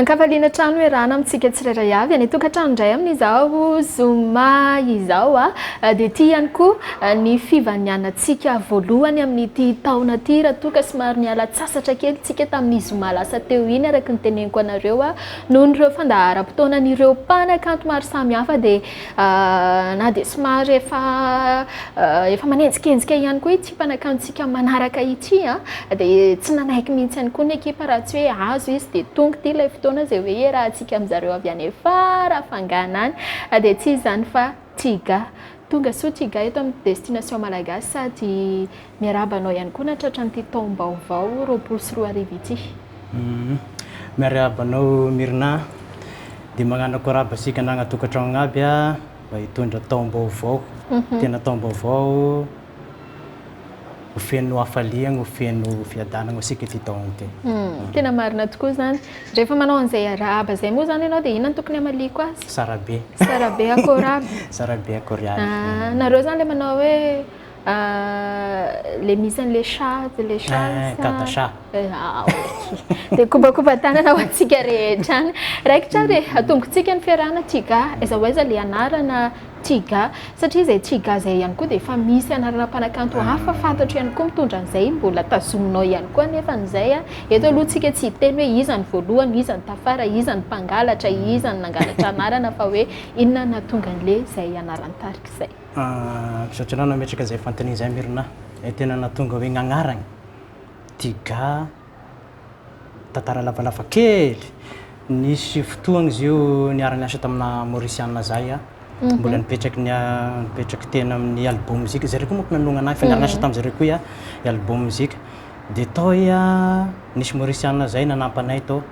An-kafaliana trano erana amintsika tsirairay avy any an-tokantrano indray amin'izao zoma izao aho dia tia ihany koa ny fivanianantsika voalohany amin'ity taona ity raha toa ka somary niala antsasatra kely isika tamin'ny zoma lasa teo iny araka ny teneniko anareo aho noho ny ireo fandaharam-potoanan'ireo mpanakanto maro samihafa dia Na dia somary efa efa manenjikenjika ihany koa ity mpanakantontsika manaraka ity dia tsy nanaiky mihitsy ihany koa ny ekipa raha tsy hoe azo izy dia tonga ity ilay fotoana izay hoe iarahantsika amin'izareo avy any Farafangana any dia tsy izany fa Tiga. Tonga soa Tiga eto amin'ny Destination Malagasy sady miarahaba anao ihany koa nahatratra an'ity taom-baovao roapolo sy roa arivo ity. Miarahaba anao Myrna a! Dia mañano koraba isika anagna tokantragno aby a, mba hitondra taom-baovao, tena taom-baovao ho feno hafaliagna, ho feno fiadanagna ho isika ity taogno ity. Tena marina tokoa izany. Rehefa manao an'izay arahaba izay moa izany ianao dia inona no tokony hamaliako azy? Tsara be. Tsara be akoraba. Tsara be akoraba. Nareo izany ilay manao hoe. Ilay misy an'ilay chat, ilay chat. Kanta chat. Dia kobakoban-tanana ho antsika rehetra any. Raikitra ary e, atombokantsika ny fiarahana Tiga, aiza ho aiza ilay anarana Tiga. Satria izay Tiga izay ihany koa dia efa misy anarana mpanakanto hafa fantatro ihany koa mitondra an'izay, mbola tazominao ihany koa anefa izay. Eto aloha tsika tsy hiteny hoe iza ny voalohany, iza ny tafara, iza ny mpangalatra, iza ny nangalatra anarana fa hoe inona no nahatonga an'ilay izay anaran-tarika izay. Misaotra anao nametraka izay fanontaniana izay Myrna e, tena nahatonga hoe nagnaragny Tiga tantara lavalava kely, nisy fotoagna izy io niara niasa tamina Mauriciana zahay a, mbola nipetraky nipetraky teny amin'ny Albo Music, zareo koa manko nanohagna anahy fa niara niasa tamin'ny zareo koa iah, i Albo Music, dia tao iah nisy Mauriciana zay nanampy anay tao.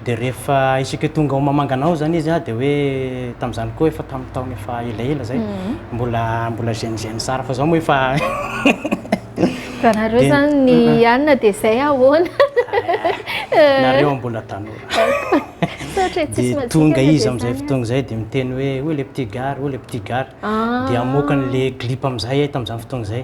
Dia rehefa isika tonga ao Mamangana ao izany izy dia hoe tamin'izany koa efa tamin'ny taona efa elaela izay, mbola mbola jeune jeune tsara fa izao moa efa Raha nareo izany ny hanina dia izay ahoana? Nareo mbola tanora. Dia tonga izy amin'izay fotoana izay dia miteny hoe, où est le petit gars, où est le petit gars? Dia amoakany ilay clip amin'izay ahy tamin'izany fotoana izay.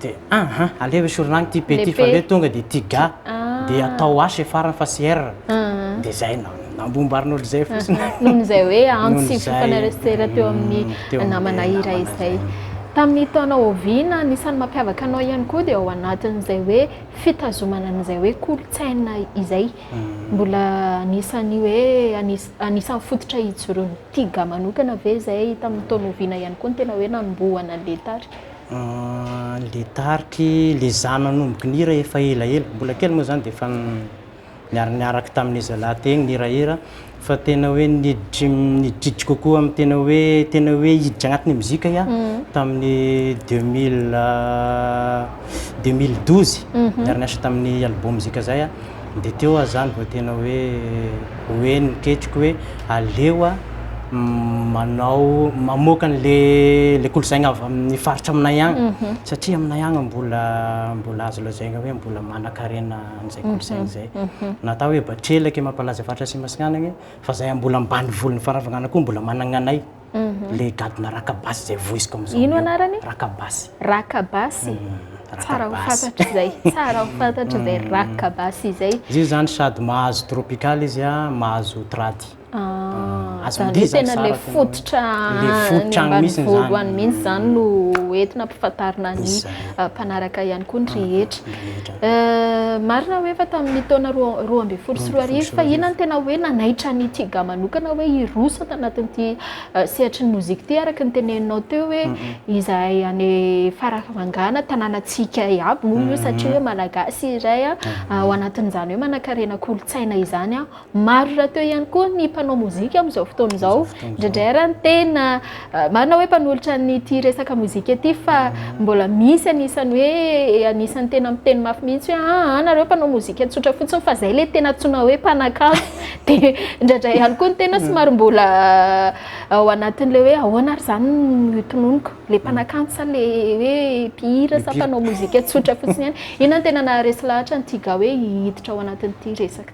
Dia aha, aleo esorina agny ty P ty fa aleo tonga dia ty ga dia atao H e farany fa tsy R. Dia izay na- nambombarinolona izay fotsiny. Noho izay hoe antso sy fiofanana resistera teo amin'ny namana iray izay. Tamin'ny taona oviana, ny isan'ny mampiavaka anao ihany koa dia ao anatin'izay hoe fitazomana an'izay hoe kolontsaina izay. Mbola anisan'ny hoe anis- anisan'ny fototra ijoroan'ny ty ga manokana ve izay, tamin'ny taona oviana ihany koa no tena hoe nanombohana an'ilay tary? Le tarik'i le za nanomboky nihira efa elaela, mbola kely moa zany de efa niara niaraka tamin'ny zalahy teny nihirahira, fa tena hoe niditry niditry kokoa amin'ny tena hoe tena hoe hiditra agnatin'ny mozika iah tamin'ny deux mille deux mille douze niara niasa tamin'ny album Zika Zay iah. Dia teo aho izany vao tena hoe ho heno ny ketriko hoe aleo aho manao, mamoaka an'ilay kolontsaina avy amin'ny faritra aminay agny, satria aminay agny mbola mbola azo lazaina hoe mbola manankarena an'izay kolontsaina izay. Na atao hoe Batrelaka, Emapalaza Faritra Atsimasinana agny, fa izahay mbola ambanivolon'ny Farafangana koa mbola managna anay. le gadona rakabasy zay voiziko amizao ino anarany rakabasy rakabasy tsara ho fantatra izay tsara ho fantatra izay rakabasy izay izy zany sady mahazo tropical izy a mahazo trady ah, zany tena le fototra le fototra any misy zany mihitsy zany no entina ampifantarina ny mpanaraka ihany koa ny rehetra Marina hoe efa tamin'ny taona roa ambin'ny folo sy roa arivo fa inona no tena hoe nanaitra an'i Tiga manokana hoe hiroso ato anatin'ity sehatry ny mozika ity araka ny teneninao teo hoe izahay any Farafangana tanànantsika iaby moa io satria hoe malagasy iray ao anatin'izany hoe manankarena kolontsaina izany Maro rahateo ihany koa ny mpanao mozika amin'izao fotoana izao. Amin'izao fotoana izao. Indraindray ary ny tena ah, marina hoe mpanolotra an'ity resaka mozika ity fa mbola misy anisan'ny hoe eh, anisan'ny tena miteny mafy mihitsy hoe ah, ah nareo mpanao mozika tsotra fotsiny fa izay ilay tena antsoina hoe mpanakanto. Dia indraindray ihany koa ny tena somary mbola ah, ao anatin'ilay hoe ahoana ary izany no itononiko, ilay mpanakanto sa ilay hoe mpihira sa Mpihira. mpanao mozika tsotra fotsiny ihany. Inona no tena naharesy lahatra an'i Tiga hoe hiditra ao anatin'ity resaka?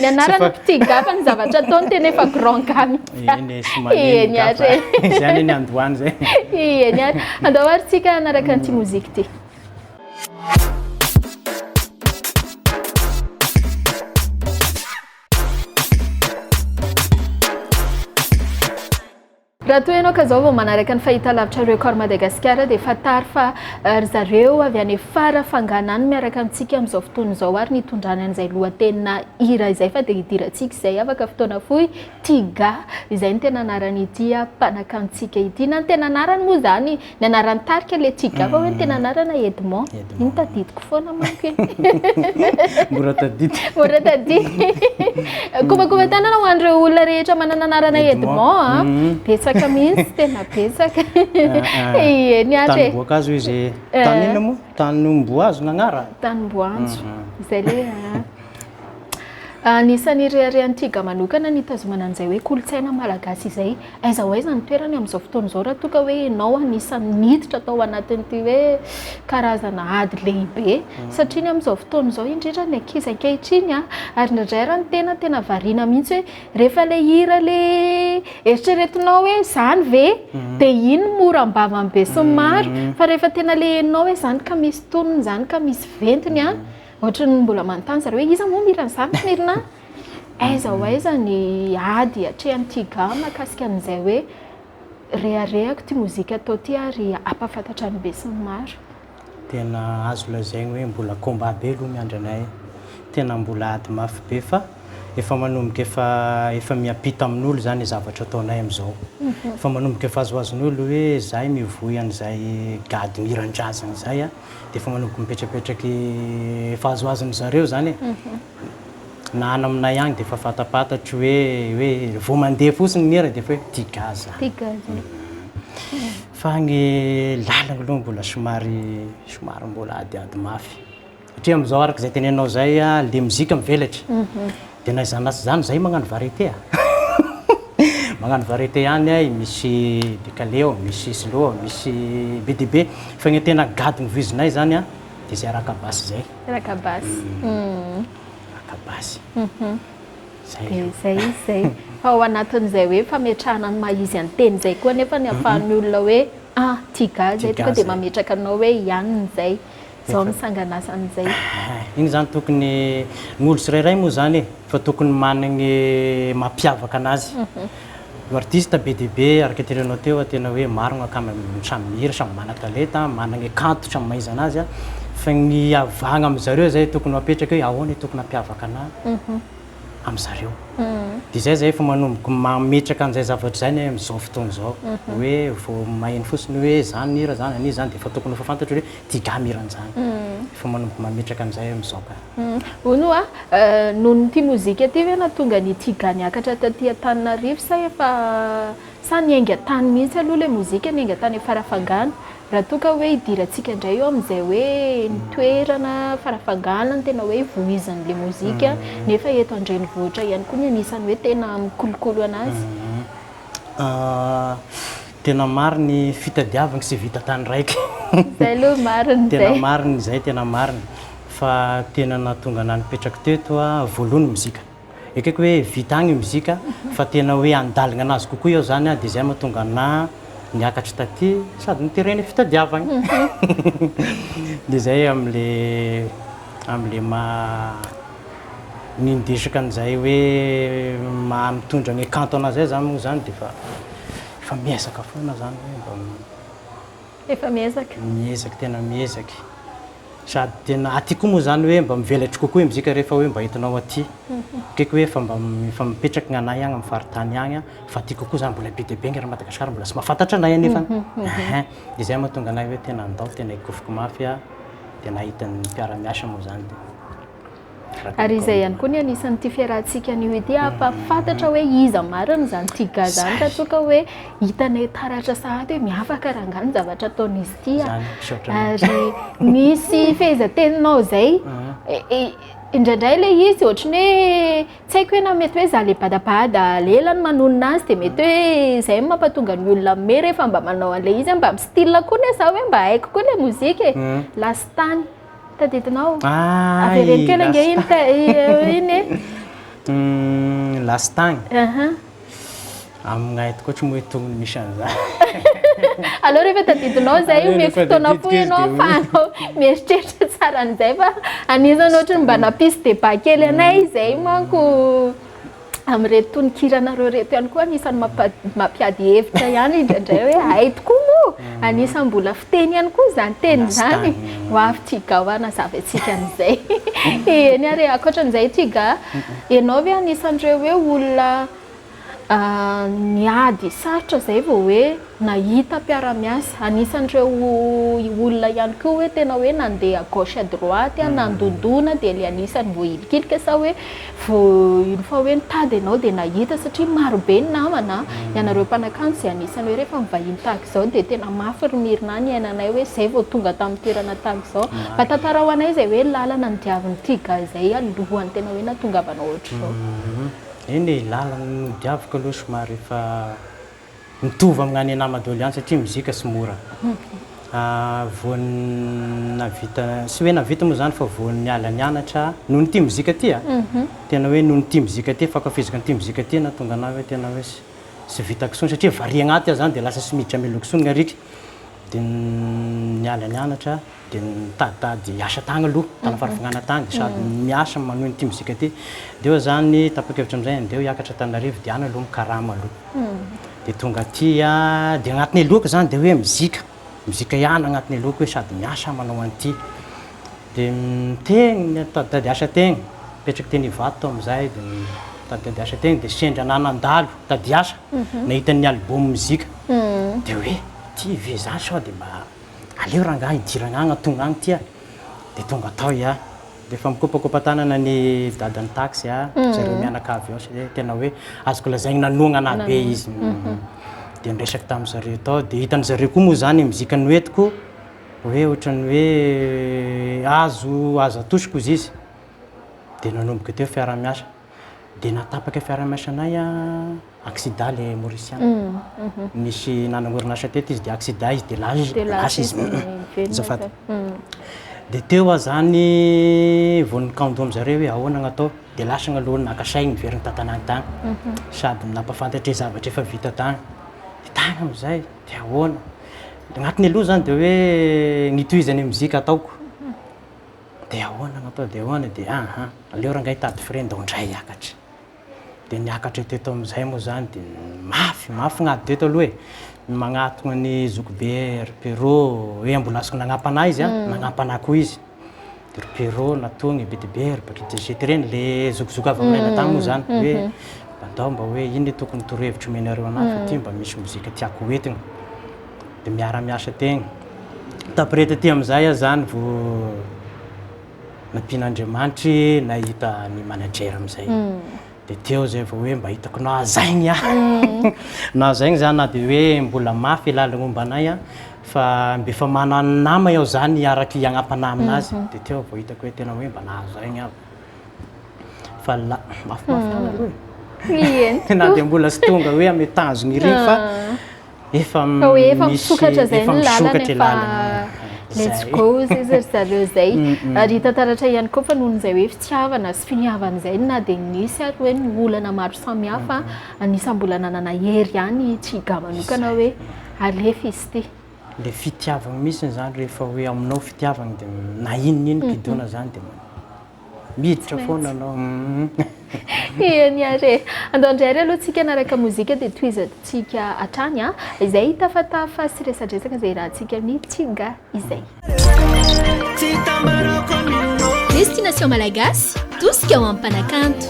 Ny anarana petit gars fa ny zavatra ataony tena efa grand gars mihitsy. Eny e, tsy manino Eny ary gafa. e. Izay anie ny andohany izay. Eny ary. Andao ary tsika hanaraka an'ity mozika ity. Raha toa ianao ka zao vao manaraka ny fahitalavitra Record Madagascar dia fantaro fa ry zareo avy any fara fangana any miaraka amintsika amin'izao fotoana izao ary nitondrany an'izay lohatenina hira izay fa dia hidirantsika izay afaka fotoana fohy Tiga izay ny tena anaran'ity mpanakanto tsika ity na ny tena anarany moa izany Ny anaran'ny tarika ilay tsy gaga hoe ny tena anarana Edmond. Edmond. Iny tadidiko foana manko iny. Mora tadidy. Mora tadidy. Kobakoban-tanana ho an'ireo olona rehetra manana anarana Edmond a. Mhm. Betsaka mihitsy, tena betsaka. Ah, ah. Ie, ny ato e. Tanimboakazo izy. Eh. Tany inona moa? Tanimboazo nagnarany? Tanimboanjo. Mhm. Izay le. Anisan'ny ireharehan'i Tiga manokana ny hitazomana an'izay hoe kolontsaina malagasy izay. Aiza ho aiza ny toerany amin'izao fotoana izao raha toa ka hoe ianao anisan'ny niditra tao anatin'ity hoe karazana ady lehibe? Satria ny amin'izao fotoana izao indrindra ny ankizy ankehitriny a! ary indraindray ary ny tena tena variana mihitsy hoe rehefa ilay hira ilay eritreretinao hoe izany ve? dia iny no mora am-bavan'ny besinimaro fa rehefa tena ilay henonao hoe izany ka misy tonony, izany ka misy ventony a! Ohatran'ny mbola manontany zareo hoe iza moa no mihira an'izany tsy merina aiza ho aiza ny ady atrehan'ny Tiga mahakasika an'izay hoe reharehako ity mozika atao ity ary hampahafantatra ny besinimaro. Tena azo lazaina hoe mbola combat be aloha ny andranay e! Tena mbola ady mafy be fa efa manomboka efa efa miampita amin'olo izany ny zavatra ataonay amin'izao. Efa manomboka efa azoazon'olo hoe izahay mivoy an'izay gadon-hiran-drazana izay a! dia efa manomboka mipetrapetraka efa azoazon-dry zareo izany e. Na any aminay any dia efa fantapantatro hoe hoe vao mandeha fotsiny ny hira dia efa hoe tia gaz aho. Tia gaz e. Fa ny lalana aloha mbola somary somary mbola adiady mafy. Satria amin'izao araka izay tenenanao izay, le mozika mivelatra. De na izany na tsy izany zay magnano variété a! Magnano variété ihany ahy, misy décalé ao, misy slow ao, misy be dia be. Fa ny tena gadon'ny voizinay zany a de zay raka basy zay. Raka basy. Raka basy. Zay aloha. De zay izy zay. Fa ao anatin'izay hoe fametrahana ny maha izy an-teny zay koa anefa ny ahafahan'ny olona hoe ah! Tiga zay tonga de mametraka anao hoe i anona zay. Zao ny sanganasan'izay. Iny zany tokony ny olo tsirairay moa zany e, fa tokony managny mampiavaka anazy. Io artiste be dia be araka terenao teo a, tena hoe maro akama samy mihira, samy mana-talenta, managny kanto samy mahaiza anazy a, fa ny hiavagna amin-dry zareo zay tokony ho apetraka hoe ahoana tokony hampiavaka anahy. amin zareo dia zay zay efa manomboka mametraka an'izay zavatra izay ny amin'izao fotoana izao hoe vao maheno fotsiny hoe zany ny hira zany an'iza zany dia efa tokony efa fantatro hoe ity gahy mirana an'izany efa manomboka mametraka an'izay amin'izao ka hono hoa noho ny ity mozika ity ve nahatonga an'ity gahy niakatra taty Antananarivo sa efa sa niainga tany mihitsy aloha ilay mozika niainga tany Farafangana Raha toa ka hoe hidirantsika indray eo amin'izay hoe ny toerana Farafangana no tena hoe vohizan'ilay mozika nefa eto an-drenivohitra ihany koa no anisan'ny hoe tena mikolokolo an'azy. Tena marina ny fitadiavana tsy vita tany raika. Izay aloha marina izay. Tena marina izay, tena marina fa tena nahatonga anah nipetraka teto voalohany ny mozika. Ekeko hoe vita agny mozika fa tena hoe andaligna anazy kokoa eo zany dia zay mahatonga anah niakatra taty sady niterena fitadiavagna dia zay amle amle maha nindesaka anizay hoe maha mitondra ny kanto anah zay zany moa zany dia efa efa miezaka foana zany hoe mba efa miezaka miezaka tena miezaka e. Sady tena aty koa moa zany hoe mba mivelatry kokoa i mzika rehefa hoe mba entinao aty. Ekeko hoe efa mba efa mipetraky ny anay agny am faritany agny an, fa aty kokoa zany mbola be dia be nge ra Madagascar mbola tsy mahafantatra anay anefa an. Ehe. De zay mahatonga anay hoe tena andao tena ekofiko mafy an, de nahita ny mpiara miasa moa zany de. Ary izay ihany koa ny anisan'ity fiarahantsika anio ity hampahafantatra hoe iza marina izany Tiga izany raha toa ka hoe hitanay taratra sahady hoe miavaka rangahy ny zavatra ataon'izy ity ary misy fehezanteninao izay indraindray ilay izy ohatry ny hoe tsy haiko hoe na mety hoe izaho ilay badabada lela no manonona azy dia mety hoe izay no mampahatonga ny olona mihomehy rehefa mba manao an'ilay izy hoe mba mi-style koa anie izaho hoe mba haiko koa ilay mozika e, lastany. Tadidinao? Ah, Avereno kely ange iny ka iny e. Lastagny. Aha. Aminay tokoa tsy moa tognony misy an'izany. Aleo rehefa tadidinao izay omeko fotoana koa ianao afahanao mieritreritra tsara an'izay fa anizany ohatry ny mba nampisy débat kely anay izay manko amin'ireto tononkiranareo ireto ihany koa anisan'ny mampiady hevitra ihany indraindray hoe hay tokoa moa mm. anisan'ny mbola fiteny ihany koa izany teny izany ho avy tiga ho hanazava antsika an'izay eny ary ankoatran'izay tiga ianao ve anisan'ireo hoe olona ah, niady sarotra izay vao hoe Nahita mpiara-miasa, anisan'ireo olona ihany koa hoe tena hoe nandeha à gauche à droite, nandondona dia ilay anisan'ny voahilikilika sa hoe vo une fois hoe nitady ianao dia nahita satria maro be ny namana, ianareo mpanakanto izay anisan'ny hoe rehefa mivahiny tahaka izao dia tena mafy ry Mirina niainanay hoe izay vao tonga tamin'ny toerana tahaka izao. Mba tantarao anay izay hoe lalana nodiavin'i Tiga izay alohan'ny tena hoe nahatongavanao ohatr'izao. Eny e, lalana nodiaviko aloha somary efa. Mitovy amina any Enama Dolian satria mozika sy mora. Voan'ny nahavita, tsy hoe nahavita moa izany fa voan'ny niala nianatra noho ny tia mozika ity a! Tena hoe noho ny tia mozika ity, fankafiziko ny tia mozika ity nahatonga anah hoe tena hoe tsy vita kisoany satria vary agnaty aho izany dia lasa tsy miditra melo kisoany ny arika. Dia niala nianatra. dia nitaditady asa tany aloha, tany farafongana tany, sady miasa manohy an'ity mozika ity. Dia eo izany, tapa-kevitra amin'izay handeha hiakatra Antananarivo, dia any aloha mikarama aloha. Dia tonga aty, dia agnatin'ny helohako izany dia hoe mozika, mozika ihany agnatin'ny helohako hoe sady miasa manao an'ity. Dia teny nitaditady asa teny, nipetraka teny Ivato aho amin'izay, dia nitaditady asa teny, dia sendra anà nandalo tady asa, nahita ny album mozika, dia hoe ity ve izaho sao dia mba Aleo rangah hidirana agny atono agny ty a! Dia tonga tao i a! Dia efa mikopakopa tanana ny dadan'ny taxi a! Ry zareo mianakavy ao satria tena hoe azoko lazaigny nanohagna anah be izy. Dia niresaka tamin'ny zareo tao dia hitan'ny zareo koa moa zany mizika noentiko hoe ohatran'ny hoe azo azo atosiko izy izy. Dia nanomboka teo fiarahamiasa. Dia nahatapaka fiaraha-miasanay accident ilay Mauriciana. Nisy nanana orinasa teto izy dia accident izy dia lasa izy. Azafady. Dia teo aho izany vao nikando amin-dry zareo hoe ahoana no atao. Dia lasa ny aloha naka saigny niverina tantanany tany. Sady nampahafantatra ny zavatra efa vita tany. Dia tany amin'izay dia ahoana. Ny anatiny aloha izany dia hoe ny tohizany ny mozika ataoko. Dia ahoana no atao dia ahoana dia aha, aleo rangahy hitady frais ndao ndray hiakatra. Dia niakatra eto eto amin'izay moa izany dia mafy, mafy ny ady eto aloha e! ny magnatona ny zokibe ry Pero, hoe ambolasiko nagnampana ahy izy an, nagnampana ahy koa izy, dia ry Pero natogny, be dia be ry Patrick dia zay tereny, le zokizoky avy aminay lahy tany moa izany, hoe mba ndao mba hoe inona tokony torohevitro omenareo anahy fa ty mba misy mozika tiako ho entina. dia miara-miasa tegna. Taprès taty amin'izay aho zany vao nampian'Andriamanitry nahita ny manager amin'izay. Hmm. Dia teo zay vao hoe mba hitako nahazaigny aho. Hmm. Nahazaigny zany na dia hoe mbola mafy lalagna omba anay aho fa mba efa manana nama aho zany hiaraka hiagnam-panahy aminazy. Hmm. Dia teo vao hitako hoe tena hoe mba nahazaigny aho. Fa la, mafimafy lala aloha e. Mihenoko. Na dia mbola tsy tonga hoe amy tanjogny iry fa. Efa Fa hoe efa misy- misokatra izay efa ny lalana misokatra e, efa lalana. let's Izay. go zay ry zareo zay. Mm, mm. Ary hita taratra ihany koa fa noho izay hoe fitiavana sy finiavana izay no na dia nisy ary hoe ny olana maro samihafa, anisan'ny mbola nanana hery ihany i Chiga manokana hoe alefa izy ity. Le fitiavagna mihitsiny zany rehefa hoe aminao fitiavagna de na inona inona gidona zany de Miditra foana anao umm. Eny ary e! Andao indray ary aloha tsika hanaraka mozika dia tohizantsika hatrany an! izay hitafatafa sy resadresaka izay irahantsika amin'ny tsinga izay. Destination Malagasy, tosika ho an'ny mpanakanto.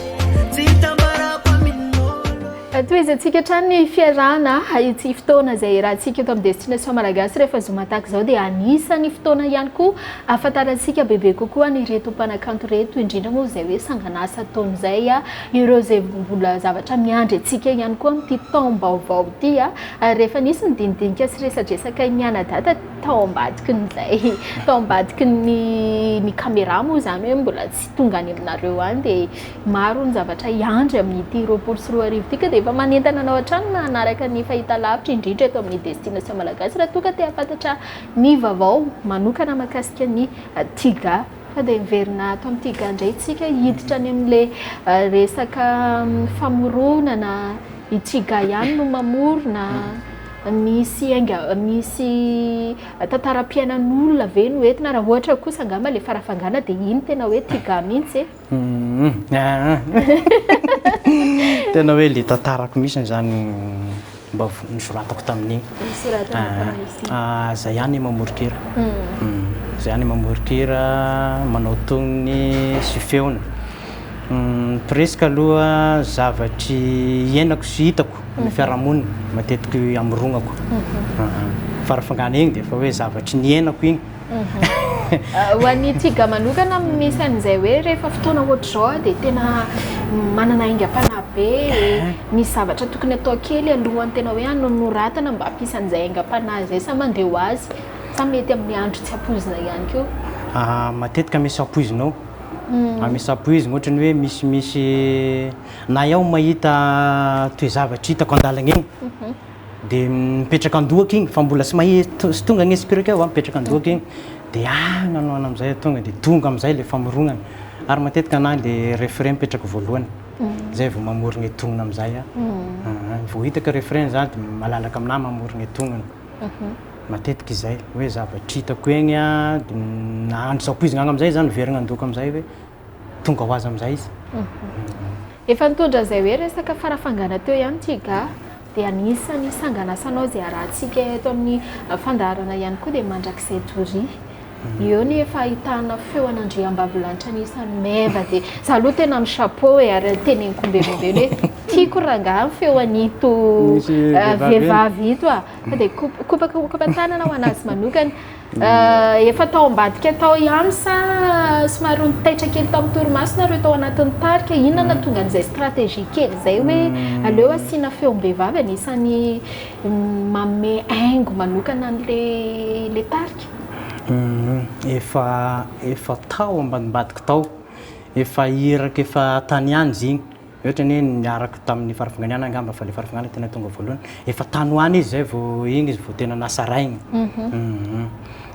Tohizantsika hatrany ny fiarahana ity fotoana izay irahantsika eto amin'ny Destination Malagasy rehefa zoma tahaka izao dia anisan'ny fotoana ihany koa Ahafantarantsika bebe kokoa an'ireto mpanakanto ireto, indrindra moa izay hoe sanganasa ataony izay, ireo izay mbola zavatra miandry antsika ihany koa amin'ity taom-baovao ity. Ary efa nisy ny dinidinika sy resadresakay mianadahy tao ambadikin'izay, tao ambadikin'ny ny kamerà moa izany hoe mbola tsy tonga any aminareo any, dia maro ny zavatra hiandry amin'ity roapolo sy roa arivo ity, ka dia efa manentana anao hatrany mba hanaraka ny fahitalavitra, indrindra eto amin'ny Destination Malagasy raha toa ka te-hahafantatra. Ny vavao manokana makasika ny tiga fa dia miverina ato amin'ny tiga indray isika hiditra any amin'ilay resaka famoronana i tiga ihany no mamorona misy ainga misy tantaram-piainan'olona ve no entina raha ohatra kosa angamba ilay farafangana dia iny tena hoe tiga mihitsy e Tena hoe le tantarako mihitsy zany mba nisoratako tamin'iny. Zay ihany mamorikira. Zay ihany mamorikira, manao tonony sy feony. Presque aloha zavatry hiainako sy hitako amin'ny fiarahamonina matetiky hamoronako. Farafangana iny dia efa hoe zavatry niainako iny. Ho an'ny Tiga manokana, misy an'izay hoe rehefa fotoana ohatr'izao aho dia tena manana aingam-panahy be, misy zavatra tokony atao kely alohan'ny tena hoe hanoratana mba hampisy an'izay aingam-panahy izay sa mandeha ho azy sa mety amin'ny andro tsy ampoizina ihany koa? Ah, matetika misy ampoizina ao, ah, misy ampoizina ohatrany hoe misimisy na aho mahita toe-zavatra hitako an-dalana eny. dia mipetraka an-dohako igny fa mbola tsy mahe sy tonga ny esprit ao a, mipetraka an-dohako igny dia ah nanao ana am'zay ah tonga dia tonga am'zay le famorognana, ary matetika anahy le refrain mipetraka voalohany, zay vao mamorogna i tognona am'zay ah, ah vao hitako refrain za dia malalaka aminahy mamorogna i tognona, matetika izay hoe zavatra hitako egny ah dia na andro sapoizigna agny am'zay za miverigna an-dohako am'zay hoe. tonga ho azy amin'izay izy. Efa nitondra an'izay hoe resaka farafangana teo ihany ity ga, dia anisan'ny sanganasanao izay arahantsika eto amin'ny fandaharana ihany koa dia mandrakizay doria. Eo ny efa ahitana feo an'andriambavilanitra anisan'ny meva dia za aloha tena mi chapeau e ary teneniko omben'ombena hoe tiako rangaha ny feo an'ito vehivavy ito a, fa dia kopakopaka tanana ho an'azy manokana. Efa tao ambadika tao ihany sa somary ho nitaitra kely tamin'ny torimaso nareo tao anatin'ny tarika? Inona no nahatonga an'izay stratégie kely izay hoe hmm. aleo asiana feom-behivavy anisan'ny hmm, manome aingo manokana an'ilay tarika? Hmm, efa efa tao ambadimbadika tao, efa iraka efa tany ihany izy igny. Ohatra anie niaraka tamin'ny farafangana angamba fa le farafangana tena tonga voalohany. Efa tany ho any izy zay vao iny izy vao tena nasaraigny.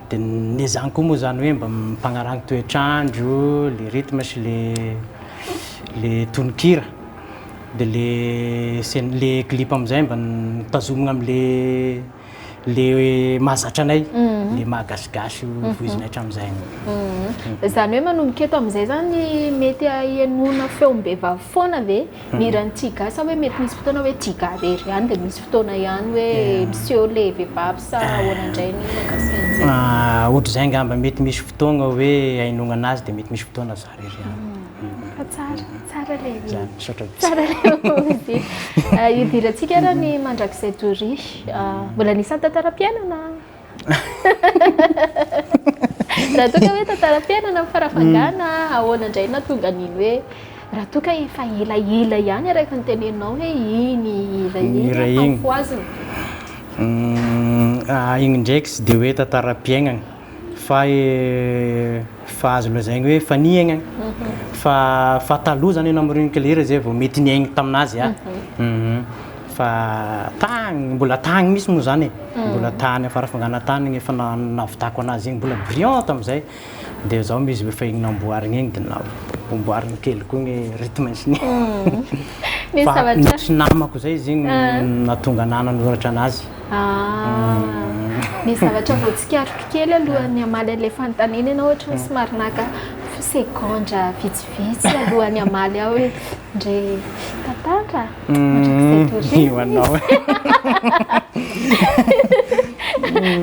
De ne zany koa moa zany hoe mba mimpagnarahagny toetr'andro, le rythme sy le le tononkira. De le scène le clip am'zay mba tazomigna am'le. le mahazatra anay, mhm. le mahagasigasy mhm. voizina hatramin'izay. Mhm. Izany hoe manomboka eto amin'izay zany mety hahenoana feom-behivavy foana ve ny hiran'ny tiga sa hoe mety misy fotoana hoe tiga rery ihany dia misy fotoana ihany hoe eh. miseho le vehivavy sa eh. ahoana indray ny makasika an'izay? Ah, ohatr'izay angamba mety misy fotoana hoe hainoana anazy dia mety misy fotoana zany. Fa tsara, tsara le izy. Zany, misaotra betsaka. Tsara le izy. Hidirantsika ara ny mandrakizay de riche. Mbola anisany tantaram-piainana. Raha toa ka hoe tantaram-piainana ny fara fangana, ahoana indray no nahatonga an'iny hoe raha toa ka efa elaela ihany araka ny teneninao hoe iny hira iny no hampoizina. Iny ndraiky tsy dia hoe tantaram-piainana. fa fa azo lazaigny hoe efa nihegna fa fa taloha zany anao Marie Claire zay vao mety niaigny taminazy a fa tagny mbola tagny misy moa zany e mbola tany afarafangana tany igny efa na- nahavitako anazy igny mbola brillant tamizay de zao moa izy efa igny namboarigny igny de na- amboarigny kely koa ny rythme sn fa nisy namako zay izy igny nahatonga anahy nanoratra anazy. Ny zavatra vao tsikariko kely alohan'ny hamaly an'ilay fanontaniana ianao ohatra hoe somary naka segondra vitsivitsy alohan'ny hamaly aho hoe ndre tantara mandrakizay tory io anao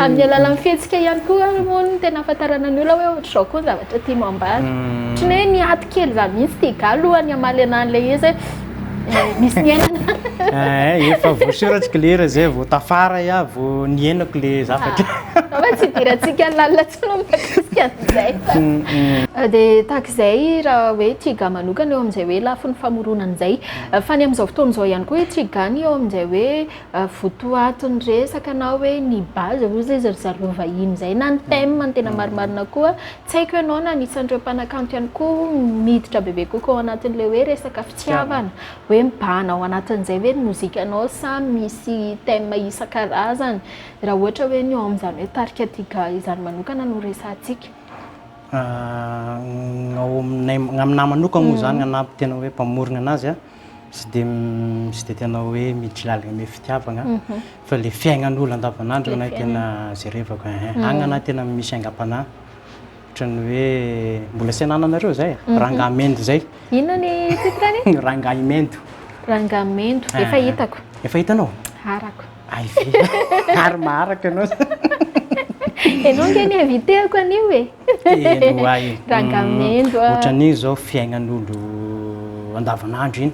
amin'ny alalan'ny fihetsika ihany koa moa ny tena afantarana ny olona hoe ohatr'izao koa ny zavatra tianao ambara ohatran'ny hoe niato kely za mihitsy ty ga alohan'ny hamaly an'ilay izy hoe misy niainana. Eh, efa voasoratsy klera zay vao tafara ya vao niainako le zavatra. Fa ah, tsy idirantsika ny lalina tsy no mikasika an'izay. Mm, mm. Eh, dia tahaka izay raha hoe tiga manokana eo amin'izay hoe lafiny famoronana izay. Eh, fa ny amin'izao fotoana izao ihany koa hoe tiga ny eo amin'izay hoe votoatin'ny resaka na hoe ny base hoy izy ry zareo vahiny izay na ny thème ny tena marimarina koa Tsy haiko ianao na anisan'ireo mpanakanto ihany koa miditra bebe kokoa ao anatin'ilay hoe resaka fitiavana, hoe mibahana ao anatin'izay ve ny mozikanao sa misy thème isan-karazany raha ohatra hoe ny ao amin'izany hoe tarika Tiga izany manokana no resahantsika? Ny ao aminay, ny aminà manokana moa izany, ny anà tena hoe mpamorona anazy, Tsy dia tsy dia tena hoe miditry lalina amin'ny fitiavagna fa ilay fiaignan'olo andavanandro no tena jerevako eh, agny ana tena misy aingam-panahy ohatran'ny hoe mbola tsy anananareo zay eh, rangahy mendo zay. Inona ny titre-ny? Rangahy mendo. Rangahy mendo, efa hitako. Efa hitanao? Harako. Hay ve ary maharaka ianao zany. Ianao ange ny inviteko anio e. Telo ho ahy. Rangahy mendo a. Ohatran'iny izao fiaignan'olo andavanandro iny.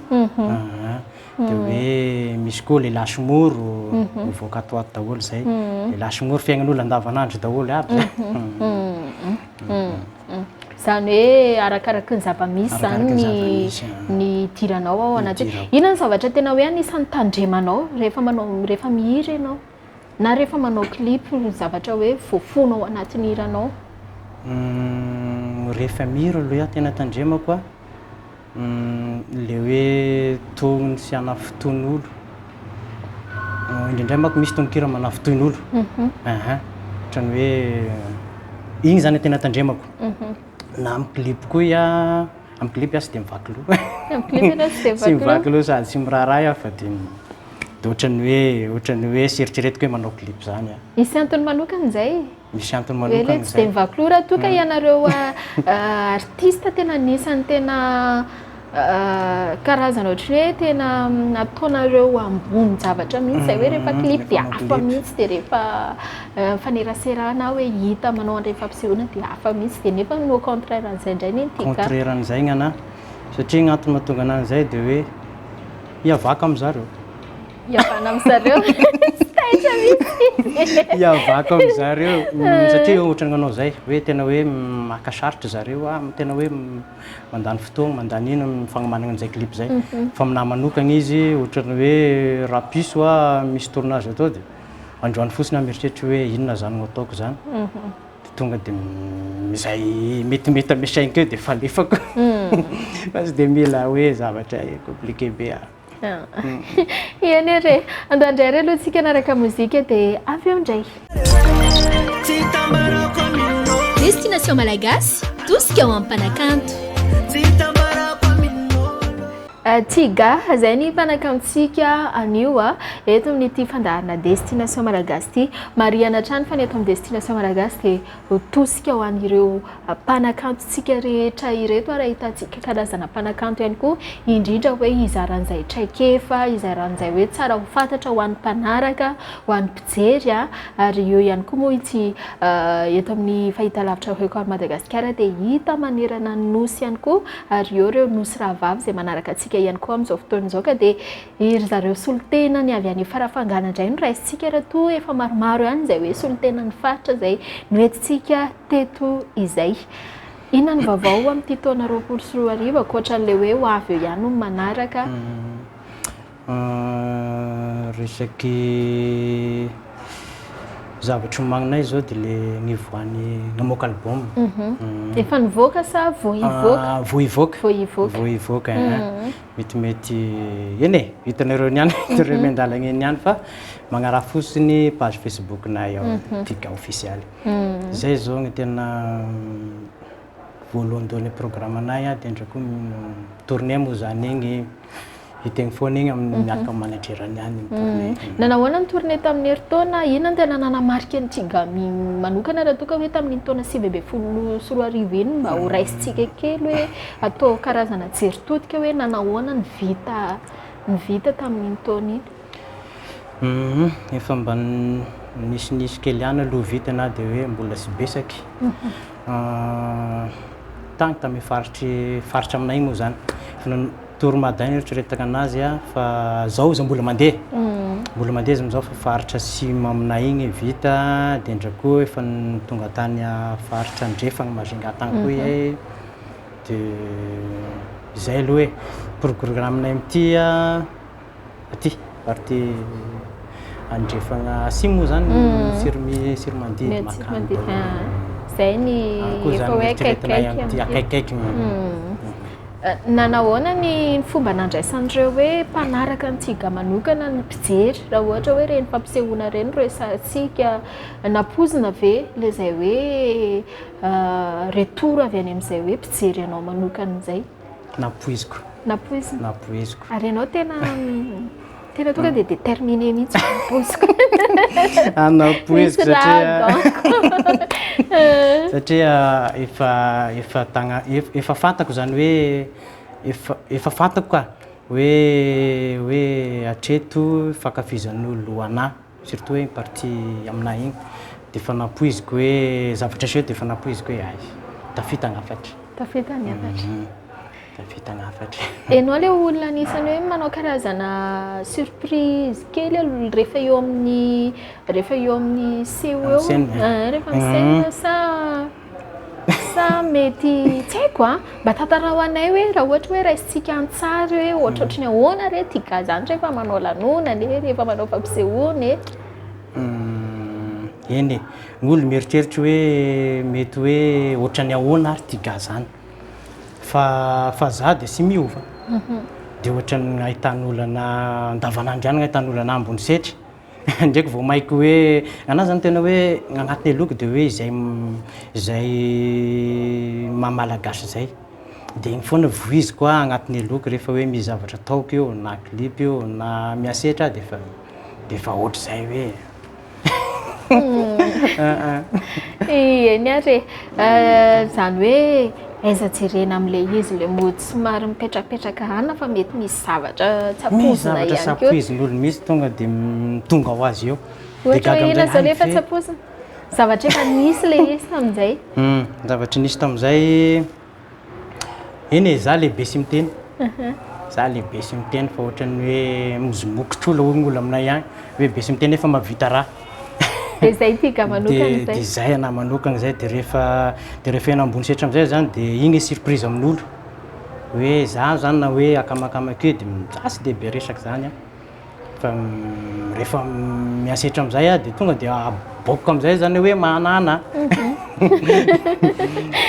Dia hoe misy koa lehilahy sy moro mivoaka ato ho ato daholo izay. Lehilahy sy moro fiaignan'olo andavanandro daholo aby. Izany hoe arakaraka ny zava-misy izany ny ny hidiranao ao anaty. Inona ny zavatra tena hoe anisan'ny tandremanao rehefa manao rehefa mihira ianao? Na rehefa manao clip ny zavatra hoe voafono ao anatin'ny hiranao? Rehefa mihira aloha tena tandremako a. Ilay hoe togno sy hanafintohin'olo, indraindray manko misy tononkira manafintohin'olo, aha, ohatran'ny hoe iny zany tena tandremako, na amin'ny clip koa ia, amin'ny clip aho tsy dia mivaky loha, amin'ny clip ianao tsy dia mivaky loha, tsy mivaky loha sady tsy miraharaha aho fa dia dia ohatran'ny hoe, ohatran'ny hoe eritreretiko hoe manao clip zany aho. Misy antony manokana izay e? Misy antony manokana izay. Hoe le tsy dia mivaky loha raha toa ka ianareo artista tena anisan'ny tena karazana ohatran'ny hoe tena ataonareo ambonin-javatra mihitsy izay hoe rehefa clip dia hafa mihitsy dia rehefa mifanerasera na hoe hita manao an'ireny fampisehoana dia hafa mihitsy dia nefa no contraire an'izay indray ny antsika. Contraire an'izay ny anà satria ny antony mahatonga anà an'izay dia hoe hiavaka amin'izareo. Iavana amin zareo. Tsy taitra mihitsy. Iavako amin zareo. Satria ohatran'ny manao izay hoe tena hoe maka sarotra zareo ah, tena hoe mandany fotoana, mandany ino amin'ny fagnomanana an'izay clip izay. Mhm. Fa aminahy manokana izy ohatran'ny hoe rapiso ah, misy tournage atao dia androany fotsiny aho mieritreritra hoe inona izany no ataoko izany. Mhm. Dia tonga dia izay metimety amin'ny sainiko eo dia falefako. Mhm. Fa tsy dia mila hoe zavatra compliqué be ah. Eny re, andeha handray re aloha tsika hanaraka mozika dia avy eo indray. Destination Malagasy, tosika ho an'ny mpanakanto. Tiga, izay ny mpanakantontsika anio eto amin'ity fandaharana Destination Malagasy ity. Marihana hatrany fa ny eto amin'ny Destination Malagasy dia. Ho tosika ho an'ireo mpanakantontsika rehetra ireto ary ahitantsika karazana mpanakanto ihany koa indrindra hoe hizaran'izay traikefa, hizaran'izay hoe tsara ho fantatra ho an'ny mpanaraka, ho an'ny mpijery ary eo ihany koa moa ity eto amin'ny fahitalavitra Record Madagasikara dia hita manerana ny Nosy ihany koa ary eo ireo Nosy rahavavy izay manaraka antsika ihany koa amin'izao fotoana izao ka dia Eh ry zareo solontena ny avy any Farafangana indray no raisintsika ery atoa efa maromaro ihany izay hoe solontenan'ny faritra izay noentintsika teto izay. Inona ny vaovao amin'ity taona roapolo sy roa arivo ankoatran'ilay hoe ho avy eo ihany hono manaraka? Resaky zavatra omaninay izao dia ilay nivoahan'ny namoaka album. Efa nivoaka sa vao hivoaka? Vao hivoaka. Vao hivoaka. Vao hivoaka. metimety eny e, hitanareo eny ihany, hitanareo eny an-dalana eny ihany fa magnaraha fotsiny page Facebook-nay ao, mhm. Tika ofisialy. Mhm. Izay izao ny tena voalohandohan'ny programme-nay dia ndray koa tournée moa izany egny hiteny foana egny amin'ny mhm. miaraka amin'ny managerany any ny tournée. Nanahoana ny tournée tamin'ny herintaona? Inona ny tena nanamarika ny Tsigami manokana raha toa ka hoe tamin'iny taona sivy ambin'ny folo sy roa arivo iny mba ho raisintsika kely hoe Atao karazana jery todika hoe nanahoana ny vita ny vita tamin'iny taona iny. Humm efa mba nisinisy kely ihany aloha vita na dia hoe mbola tsy besaky tany tamin'ny faritry faritra aminay moa izany efa nanao tour mada ny eritreretako an'azy fa izao izao mbola mandeha mbola mandeha izy amin'izao fa faritra atsimo aminay iny vita dia indray koa efa tonga tany faritra andrefana majunga tany koa iay de izay aloha e, programme-nay amin'ity aty partie andrefagna atsimo moa zany Tsirimi- Tsiromandidy, Ny atsimo Makamba, mandeha ah, zay ny any koa efa zany hoe eritreretanay akaikikaiky amin'ity amin'ity. akaikaikiny Eh, Nanahoana ny fomba nandraisan'ireo hoe mpanaraka an'i Tsiga manokana ny mpijery raha ohatra hoe ireny fampisehoana ireny no resahantsika? Nampoizina ve ilay izay hoe retour avy any amin'izay hoe mpijery anao manokana izay? Nampoiziko. Nampoizina? Nampoiziko. Ary ianao tena tena tonga dia déterminé mihitsy nampoiziko. Nampoiziko satria satria efa efa tagna efa fantako izany hoe efa efa fantako ka hoe hoe hatreto fankafizan'olona ho anà. Surtout hoe iny partie aminay iny dia efa nampoiziko hoe zavatra seho dia efa nampoiziko hoe hay, tafita ny hafatra. Tafita ny hafatra. Tafita ny hafatra. Ianao ilay olona anisan'ny hoe manao karazana surprise kely aloha rehefa eo amin'ny rehefa eo amin'ny seho eo. Rehefa amin'ny scène sa Sa mety tsy haiko a! Mba tantarao anay hoe raha ohatra hoe raisintsika an-tsary hoe ohatrohatry ny ahoana re ty ga zany rehefa manao lanonana e, rehefa manao fampisehoana e. Eny e, ny olona mieritreritra hoe mety hoe ohatra ny ahoana ary ty ga zany. Fa fa za dia tsy miova, dia ohatra ny ahitan'olona andavanandro ihany ny ahitan'olona ambony setra. Ndraiky vao mainky hoe anah zany tena hoe agnatiny aloako de hoe izay izay maha malagasy izay de igny foana vohiziko a agnatiny aloako rehefa hoe misy zavatra ataoko io na clip io na mihasetra ah defa defa ohatr'izay hoe aa eny ary e zany hoe Aiza jerena amin'ilay izy ilay mody somary mipetrapetraka any fa mety misy zavatra tsy ampoizina ihany koa. Misy zavatra tsy ampoizin'ny olona mihitsy tonga dia tonga ho azy eo. Ohatra hoe inona izany efa tsy ampoizina? Zavatra efa nisy ilay izy tamin'izay. Zavatra nisy tamin'izay, eny e, izaho lehibe sy miteny. Izaho lehibe sy miteny fa ohatran'ny hoe mozimoky trola hono ny olona aminay any, hoe be sy miteny nefa mahavita raha. Dia izay ity ga manokana izay. Dia izay anah manokana izay dia rehefa dia rehefa eny ambony setra amin'izay izany dia iny le surprise amin'olo hoe izaho izany na hoe akamakama akeo dia za tsy dia be resaka izany an. Fa rehefa mihasetra amin'izay aho dia tonga dia aboakiko amin'izay izany hoe manana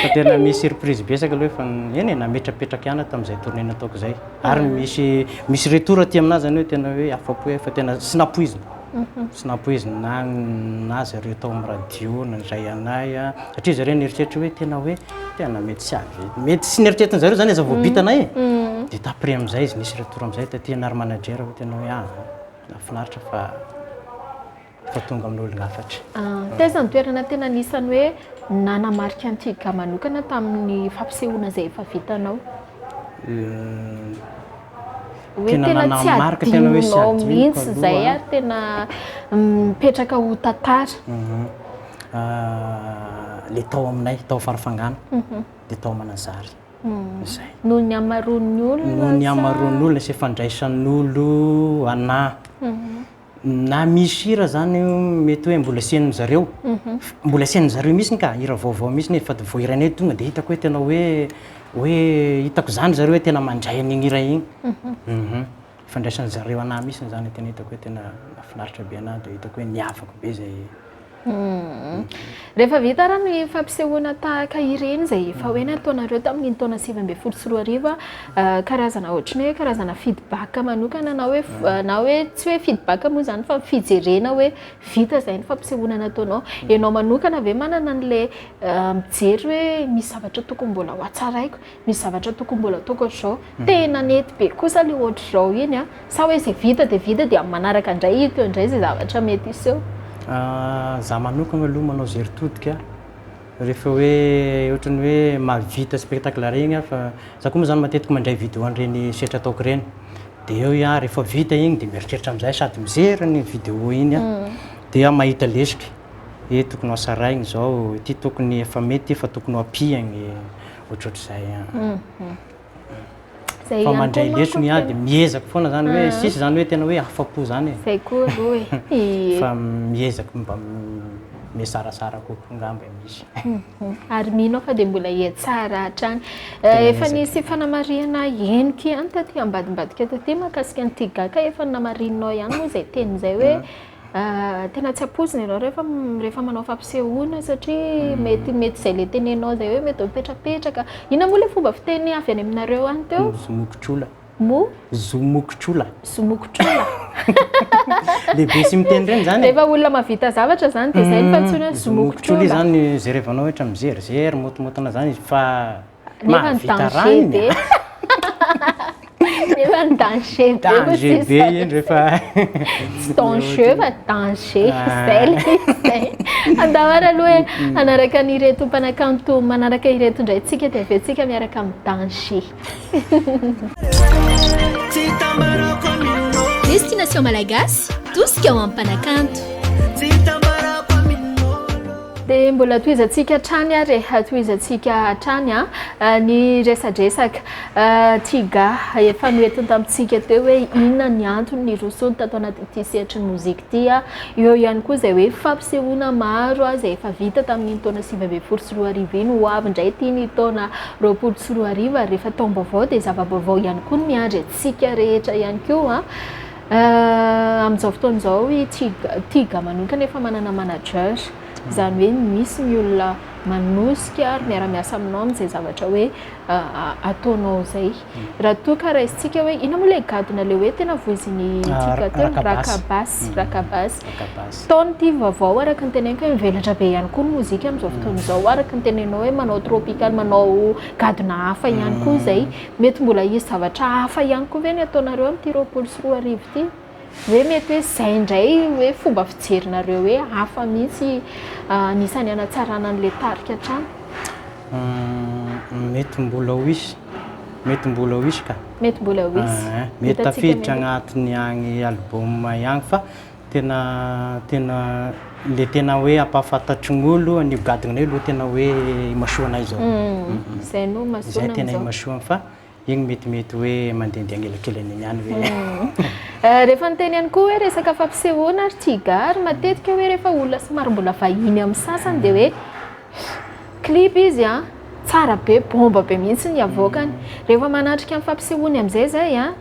fa tena misy surprise betsaka aloha efa eny e, nametrapetraka ihany aho tamin'izay tournée nataoko izay. Ary misy misy retour aty aminahy izany hoe tena hoe afa-po aho fa tena tsy nampoizina. Tsy nampoizina ahy zareo tao amin'ny radio nandray anay satria zareo nieritreritra hoe tena hoe tena mety tsy avy eto. Mety tsy neritreritiny zareo zany aza vao bitanay e. Dia t'après amizay izy nisy retour amizay taty ianah ry manager hoe tena hoe ah nahafinaritra fa efa tonga amin'olona hafatra. Taiza ny toerana tena anisan'ny hoe nanamarika an'i Tiga manokana tamin'ny fampisehoana izay efa vitanao? Hoe tena tsy adinonao mihitsy izay ary tena mipetraka ho tantara. Ilay tao aminay, tao Farafangana, dia tao Mananjary. Izay. Noho ny hamaroan'ny olona sa? Noho ny hamaroan'ny olona sy ny fandraisan'olo anà. Na misy hira zany mety hoe mbola asian'ny zareo, mbola asian'ny zareo mihitsiny ka, hira vaovao mihitsiny e, fa vao hira anay tonga dia hitako hoe tena hoe hoe hitako izany zareo hoe tena mandray an'iny hira iny, ifandraisan'ny zareo anah mihitsiny zany tena hitako hoe tena nahafinaritra be anah dia hitako hoe niavaka be zay. Rehefa vita ary ny fampisehoana tahaka ireny izay efa hoe nataonareo tamin'iny taona sivy ambin'ny folo sy roa arivo, karazana ohatran'ny hoe karazana feedback manokana na hoe na hoe tsy hoe feedback moa izany fa fijerena hoe vita izay ny fampisehoana nataonao. Ianao manokana ve manana an'ilay mijery hoe misy zavatra tokony mbola ho hatsaraiko? Misy zavatra tokony mbola ataoko ohatr'izao, tena nety be kosa ilay ohatr'izao iny an, sa hoe izay vita dia vita dia amin'ny manaraka indray hita eo indray izay zavatra mety hiseho? Za manokana aloha manao izay ry todika rehefa hoe ohatran'ny hoe mahavita spectacle iray iny aho fa za koa moa zany matetika mandray vidéo an'ireny setra ataoko ireny dia eo iah rehefa vita iny dia mieritreritra amin'izay sady mijery ny vidéo iny aho dia mahita lesoka hoe tokony ho hasarahina izao, ity tokony efa mety ity fa tokony ho ampiany. ohatrohatr'izay a. Zay fa mandray leso ny ahy dia miezaka foana zany hoe ah. sisy zany hoe tena hoe afa-po zany e zay koa aloha e fa miezaka mba mesarasara kokoa ngamba e misy mhm. ary mino aho fa dia mbola hiatsara hatrany eh, efa nisy fanamarihana henoko ihany taty ambadimbadika taty makasika ny tigaka efa namarinao ihany moa zay teny zay hoe mhm. Tena tsy ampoizina ianao rehefa rehefa manao fampisehoana satria mm. mety mety izay le tenenao izay hoe mety mipetrapetraka inona moa le fomba fiteny avy any aminareo any teo zomokotrola mo zomokotrola zomokotrola lehibe sy miteny ireny zany e. efa olona mavita zavatra zany dia izay ny mm. fantsony hoe zomokotrola izany zerevanao ohatra mizery zery motomotina zany izy fa Nefa ny danger be. Nefa ny danger be. Danger be iny rehefa. Tsy danger fa danger. Ah. Izay le izay. Andavara aloha hoe mm. hanaraka an'ireto mpanakanto manaraka ireto indray tsika dia avy eo tsika miaraka amin'ny danger. Destination Malagasy, tosika ho amin'ny mpanakanto. Dia mbola tohizantsika hatrany ary e, tohizantsika hatrany an, ny resadresaka Tiga efa noentiny tamintsika teo hoe inona ny antony nirosoany tato anatin'ity sehatry ny mozika ity an, eo ihany koa izay hoe fampisehoana maro an izay efa vita tamin'iny taona sivy ambin'ny folo sy roa arivo iny, ho avy indray ity ny taona roapolo sy roa arivo ary rehefa taom-baovao dia zava-baovao ihany koa no miandry antsika rehetra ihany koa an. Amin'izao fotoana izao i Tiga manokana efa manana manager, izany hoe misy ny olona manosika ary miara-miasa aminao amin'izay zavatra hoe ataonao izay. Raha toa ka raisintsika hoe inona moa ilay gadona ilay hoe tena voizin'i Tiga teo? Rakabasy. Rakabasy. Taona ity vaovao araka ny teneniko hoe mivelatra be ihany koa ny mozika amin'izao fotoana izao araka ny tenenao hoe manao tropical, manao gadona hafa ihany koa izay. Mety mbola hisy zavatra hafa ihany koa ve ny ataonareo amin'ity roapolo sy roa arivo ity? Hoe mety hoe izay indray hoe fomba fijerinareo hoe hafa mihitsy anisan'ny hanatsarana an'ilay tarika hatrany? Mety mbola ho hisy, mety mbola ho hisy ka. Mety mbola ho hisy. Mety tafiditra agnatin'ny agny album ihany fa Tena tena le tena hoe ampahafantatry ny olo an'io gadona io lo tena hoe imasoanay zao. Zay no imasoana amizao. Zay tena imasoana fa iny metimety hoe mandendeha agnelakelany eny ihany hoe. Rehefa niteny ihany koa hoe resaka fampisehoana ary cigare matetika hoe rehefa olona somary mbola vahiny amin'ny sasany dia hoe clip izy an, tsara be, bomba be mihitsy ny avoakany. Rehefa manatrika ny fampisehoany amin'izay zay an,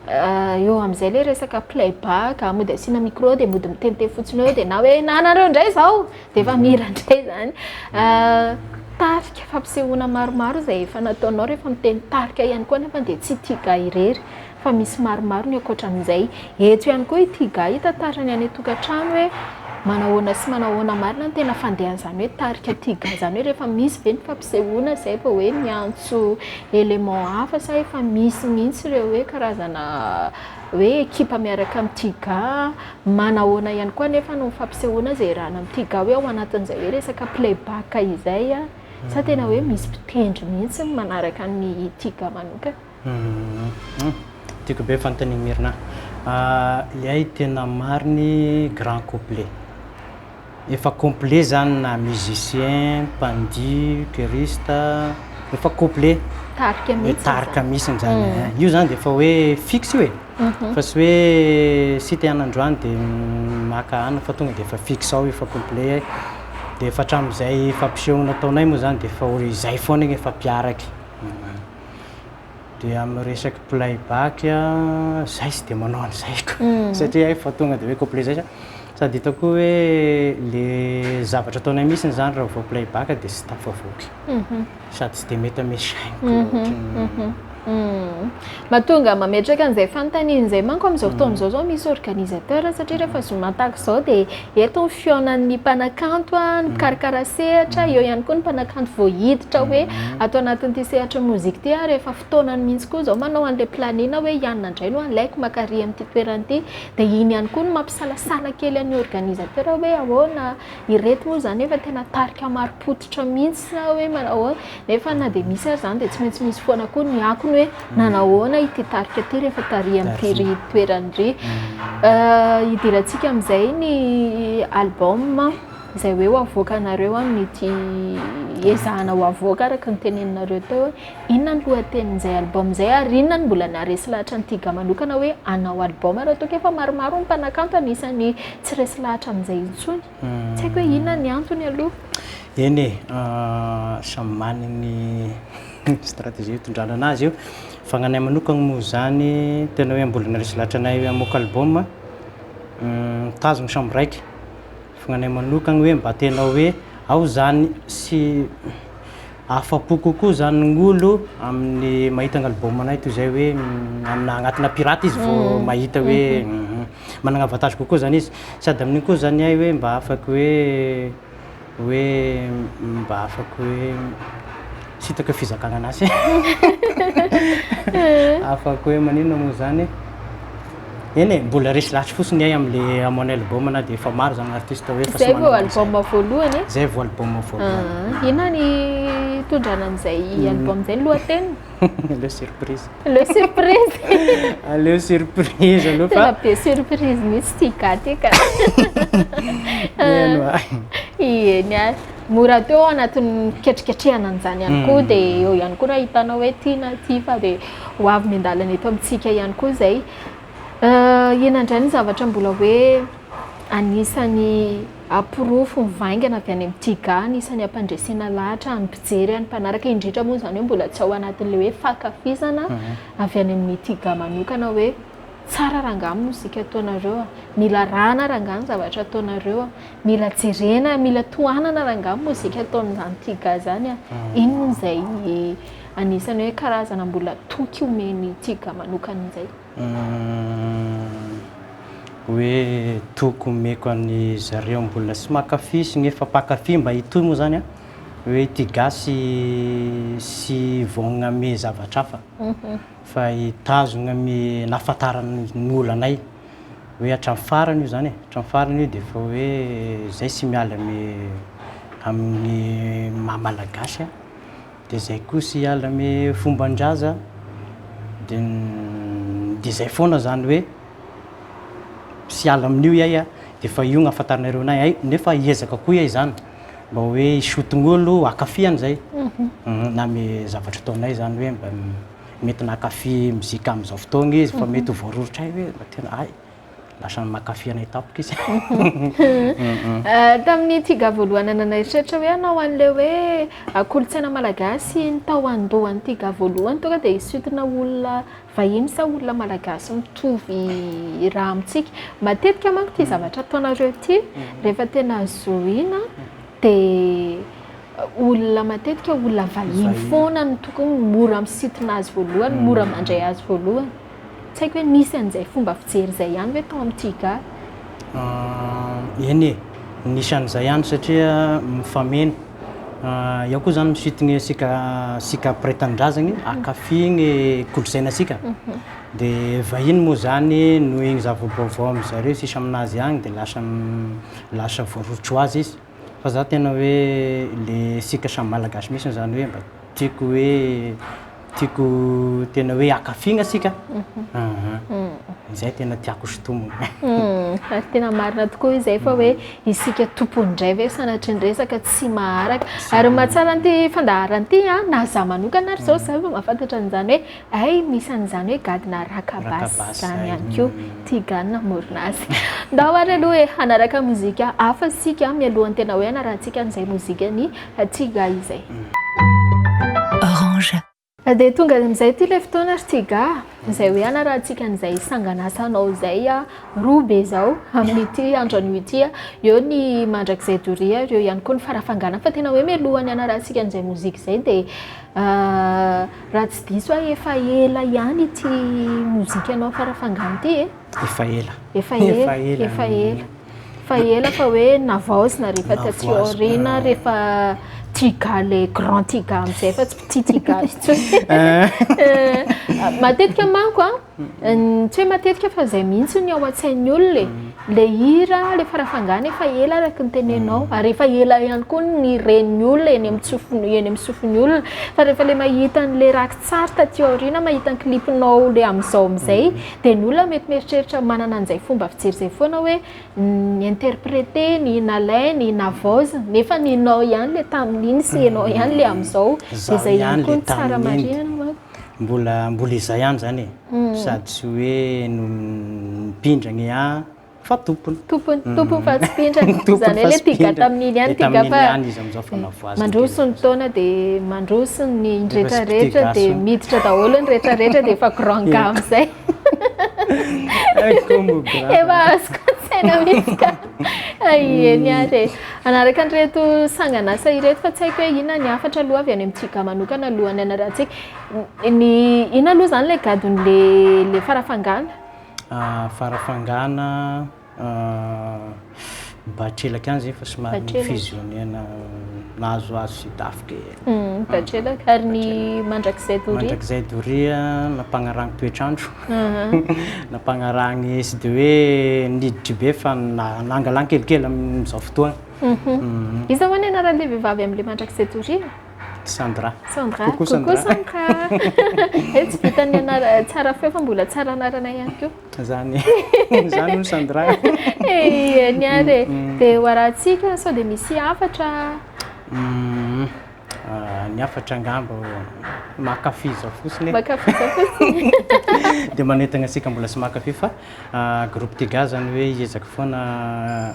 Eo amin'izay ilay resaka play back, mody asiana micro dia mody mitente fotsiny eo dia na hoe na anareo indray izao dia efa mihira indray izany. Tarika fampisehoana maromaro izay efa nataonao rehefa miteny tarika ihany koa nefa dia tsy Tiga irery fa misy maromaro ny ankoatra amin'izay. Eto ihany koa i Tiga hitantara ny any an-tokantrano hoe manao ahoana sy manao ahoana marina ny tena fandehan'izany hoe tarika Tiga izany hoe rehefa misy ve ny fampisehoana izay vao hoe miantso élément hafa sa efa misy mihitsy ireo hoe karazana hoe ekipa miaraka amin'ny Tiga? Manahoana ihany koa anefa no fampisehoana izay rahana amin'ny Tiga hoe ao anatin'izay hoe resaka playback izay sa tena hoe misy mpitendry mihitsy ny manaraka ny Tiga manokana? Tiako be fanontanian'i Mirna. Ilay tena mariny grand couplet. efa complet zany na musicien, mpandihy, choriste, efa complet, tarika mihitsy, tarika mihitsy zany, io zany dia efa hoe fixe io e, fa tsy hoe site ihany androany dia maka anona fa tonga dia efa fixe ao efa complet, dia efa hatramin'izay fampisehoana nataonay moa zany dia efa hoe izay foana iny efa mpiaraky, dia amin'ny resaka playback, zay tsy dia manao an'izay koa, satria hay fa tonga dia hoe complet zay sa. Sady hitako koa hoe le zavatra ataonay mihitsiny zany raha vao play back dia tsy tafavoaka sady tsy dia mety amin'ny saiko loatra. Mahatonga mametraka an'izay fanontaniana izay manko amin'izao fotoana izao zao misy organisateur satria rehefa zoma tahaka izao dia eto ny fihaonan'ny mpanakanto, ny mpikarakara sehatra, eo ihany koa ny mpanakanto vao hiditra hoe ato anatin'ity sehatry ny mozika ity ary efa fotoanany mihitsy koa izao manao an'ilay planning hoe i anona indray no alaiko maka àry amin'ity toerana ity. Dia iny ihany koa no mampisalasala kely an'ny organisateur hoe ahoana ireto moa izany efa tena tarika marim-pototra mihitsy sa hoe manao ahoana. Nefa na dia misy aza izany dia tsy maintsy misy foana koa ny akony hoe nanao ahoana ity tarika ity rehefa tarihan'ity ry toerany ry. Hidirantsika amin'izay ny album izay hoe ho avoakanareo amin'ity ezahana ho avoaka araka ny teneninareo teo. Inona ny lohatenin'izay album izay ary inona no mbola naharesy lahatra an'i Tiga manokana hoe hanao album raha toa ka efa maromaro ny mpanakanto anisan'ny tsy resy lahatra amin'izay intsony? Tsy haiko hoe inona ny antony aloha. Eny e, samy manana ny stratégie hitondrana anazy io. Fa ny anay manokana moa izany tena hoe mbola naharesy lahatra anay hoe hamoaka album, mitazona samy raika. Fa ny anay manokana hoe mba tena hoe ao izany sy Afa-po kokoa izany Ngolo amin'ny mahita ny album-nay toy izay hoe amina agnatina pirate izy vao mahita hoe managna avantage kokoa izany izy. Sady amin'igny koa izany ahy hoe mba afaky hoe hoe mba afaky hoe tsy hitako fizakagna an'asy e afaky hoe maninona moa izany e. Eny e, mbola resy lahatry fotsiny ay am le amon album na dia efa maro zany artiste hoe fa tsy manana. Zay vao album voalohany e. Zay vao album voalohany. Ah, inona ny hitondrana an'izay hmm. album zay ny lohateniny? Le surprise. Le surprise. Aleo surprise aloha fa. Tena be surprise mihitsy ty ga ty ka. Eny Eny ah. Mora teo anatin'ny fiketriketrehana an'izany ihany koa hmm. dia eo ihany koa raha hitanao hoe ty na ty fa dia ho avy miandalana eto amintsika ihany koa izay. Inona indray ny zavatra mbola hoe anisan'ny porofo mivaingana avy any amin'ny TGAA, anisan'ny hampandresena lahatra ny mpijery any mpanaraka, indrindra moa izany hoe mbola tsy ao anatin'ilay hoe fankafizana avy any amin'ny TGAA manokana hoe tsara rangaha ny mozika ataonareo, mila arahana rangaha ny zavatra ataonareo, mila jerena, mila tohanana rangaha ny mozika ataon'izany TGAA izany. Inona izay... Anisan'ny hoe karazana mbola toky omen'i Tiga manokana izay. Hoe toky omeko an'i zareo mbola tsy mankafy sy nefa mpankafy mba hitohy moa izany an, hoe i Tiga sy tsy hivaogna amin'ny zavatra hafa fa hitazogna amin'ny nahafantarany ny olanay hoe hatramin'ny farany io izany e, hatramin'ny farany io dia efa hoe izay tsy miala amin'ny amin'ny maha malagasy an. Dia zay kosa hiala amy fomban-draza dia dia zay foana zany hoe tsy hiala amin'io iay a, dia efa io no ahafantarinareo anay hay nefa hiezaka koa iay zany mba hoe hisoton'olo hakafy an'izay na amy zavatra ataonay zany hoe mba mety nankafy mozika am'zao fotoagna izy fa mety ho voaroritray hoe mba tena hay. lasa makafy anay tampoka izy. Tamin'ny tiga voalohany anao naheritreritra hoe hanao an'ilay hoe kolontsaina malagasy ny tao an-dohan'ny tiga voalohany tonga dia hisintonana olona vahiny sa olona malagasy mitovy ra amintsika. Matetika manko ity zavatra ataonareo ity rehefa tena zohiana dia olona matetika olona vahiny foana no tokony mora misintona azy voalohany, mora mandray azy voalohany. Tsy haiko hoe nisy an'izay fomba fijery izay ihany ve tao amin'ny TGAR? Ah, eny e! Nisy an'izay ihany satria mifameno. Ah, eo koa izany mi-suit ny sika, sika mpiray tanindrazagny, hankafy ny kolontsainantsika. Dia vahiny moa izany noho iny zava-baovao amin-dry zareo sisa aminazy agny dia lasa, lasa voaroritro ho azy izy. Fa za tena hoe le sika samy malagasy misy zany hoe mba tiako hoe tiako tena hoe akafigna sika zay tena tiako sintomina fa tena marina tokoa izay fa hoe isika tompony indray ve sanatry ny resaka tsy maharaka ary mahatsara an'ity fandaharan'ity a na za manokana ary zao za vao mahafantatra an'izany hoe Hay misy an'izany hoe gadona raka basy izany ihany koa, tia gadona hamorona azy. Ndao ary aloha e, hanaraka mozika hafa isika mialohan'ny tena hoe hanarahantsika an'izay mozikan'i Tiga izay. Orange. Dia tonga amin'izay ity ilay fotoana ry Tiga, izay hoe hanarahantsika an'izay sangan'asanao izay roa be izao amin'ity andro anio ity. Eo ny mandrakizay doria ary eo ihany koa ny farafangana. Fa tena hoe mialohan'ny hanarahantsika an'izay mozika izay dia Raha tsy diso aho efa ela ihany ity mozikanao Farafangana ity e. Efa ela. Efa ela. Efa ela. Efa ela fa hoe navaozina rehefa taty aoriana rehefa Tiga le grand Tiga amin'izay fa tsy Petit Tiga intsony. Matetika manko an. Tsy hoe matetika fa izay mihitsy ny ao an-tsain'ny olona e. Ilay hira, ilay farafangana efa ela araka ny tenenao, mm. ary efa ela ihany koa ny ren'ny olona eny amin'ny sofiny eny amin'ny sofin'ny olona. Fa rehefa ilay mahita an'ilay rakitsary taty aoriana, mahita ny clipinao ilay amin'izao amin'izay, mm. dia ny olona mety mieritreritra manana an'izay fomba fijery izay foana hoe ny interprete, ny nalainy, ny navaoziny, nefa ny nao ihany ilay tamin'iny sy ianao ihany ilay amin'izao. Izay ihany koa ny tsara marihana. Mbola mbola izay ihany izany e. Sady tsy hoe mpindrana e an, fa tompony. Tompony, tompony fa tsy mpindrana. Izany hoe le piga tamin'iny ihany piga fa mandroso ny taona dia mandroso ny rehetra rehetra dia miditra daholo ny rehetra rehetra dia efa grand gamme izay. Efa azoko an-tsaina mihitsy ka. Eny ary e! Hanaraka an'ireto sangan'asa ireto fa tsy haiko hoe inona ny hafatra aloha avy any amin'ny JIGA manokana alohan'ny hanarahantsika. Ny inona aloha izany ilay gadon'ilay farafangana? Farafangana, Batrelaka any izay efa somary ni-fusionner-na, nahazohazo sy tafika e. Hmm, tatrelaka. Ary ny mandrakizay doria? Mandrakizay doria, nampanarahany toetr'andro. Nampanarahany sy dia hoe niditry be fa nangalany kelikely amin'izao fotoana. Mhm. Mhm. Iza hoa ny anaran'ilay vehivavy amin'ilay mandrakizay doria? Sandra. Sandra. Coucou Sandra. Coucou Sandra. Eh, tsy vitan'ny anara- tsara feo fa mbola tsara anarana ihany koa. Zany hono zany hono Sandra. Eny ary e, dia ho arahintsika sao dia misy hafatra. Ny hafatra angamba mankafy zao fotsiny e. Mankafy zao fotsiny. Dia manentana antsika mbola tsy mankafy fa groupe Tiga zany hoe hiezaka foana.